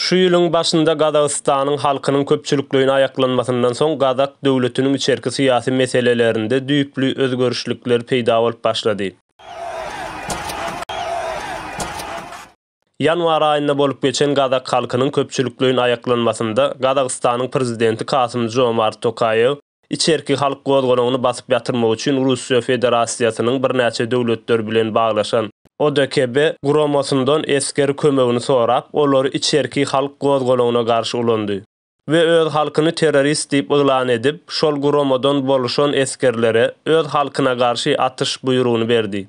Şu ýylyň başynda Gazagystanyň halkynyň köpçülikleýin aýaklanmasyndan soň gazak döwletiniň içerki syýasy meselelerinde düýpli özgerişlikler peýda bolup başlady. Ýanwar aýynda bolup geçen gazak halkynyň köpçülikleýin aýaklanmasynda Gazagystanyň prezidenti Kasym-Žomart Tokaýew Içerki halk gozgalaňyny basyp ýatyrmak üçin Russiýa Federasiýasynyň birnäçe döwletler bilen baglaşan ODKB guramasyndan esger kömegini sorap, olary içerki halk gozgalaňyna garşy ulandy we öz halkyny terrorist diýip yglan edip, şol guramadan boluşan esgerlere öz halkyna garşy atyş buýrugyny berdi.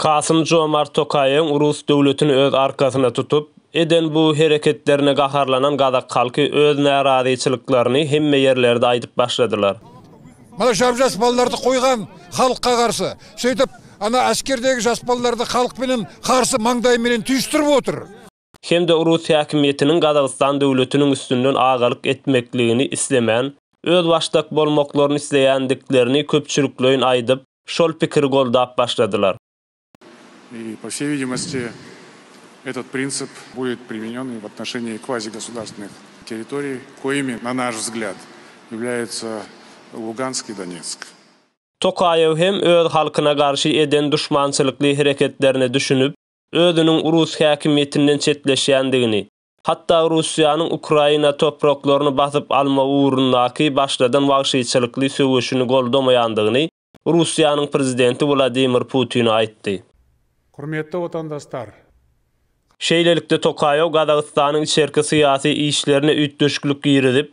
Kasym-Jomart Tokaýewiň rus döwletini öz arkasyna tutup, eden bu hereketlerine gaharlanan gazak halky öz närazyçylyklaryny hemme ýerlerde aýdyp başladylar. Mana şar jaspalylardy goýgan halka garşy. Şeýdip, ana askerdäki jaspalylardy halk bilen garşy maňdaýy bilen tüýşdürip otyr. hem-de rus häkimiýetiniň Gazagystan döwletiniň üstünden agalyk etmekligini islemän, özbaşdak bolmaklaryny isleýändiklerini köpçülikleýin aýdyp, şol pikiri goldap başladylar. I, po wsej widimosti, etot printsip buet primenýon i v atnoşenniýi kvazigosudarstvennih territoriý, koimi, na naş vzglýad, ýavlýaýatsa Lugansk i Donetsk. Tokaýew hem öz halkyna garşy eden duşmançylykly hereketlerine düşünip, özüniň rus häkimiýetinden çetleşýändigini, hatda Russiýanyň Ukraina topraklaryny basyp alma ugrundaky başladan wagşyçylykly söweşini goldamaýandygyny Russiýanyň prezidenti Wladimir Putine aýtdy. Hormetli watandaslar! Şeýlelikde Tokaýew Gazagystanyň içerki syýasy işlerine üýtgeşiklik girizip,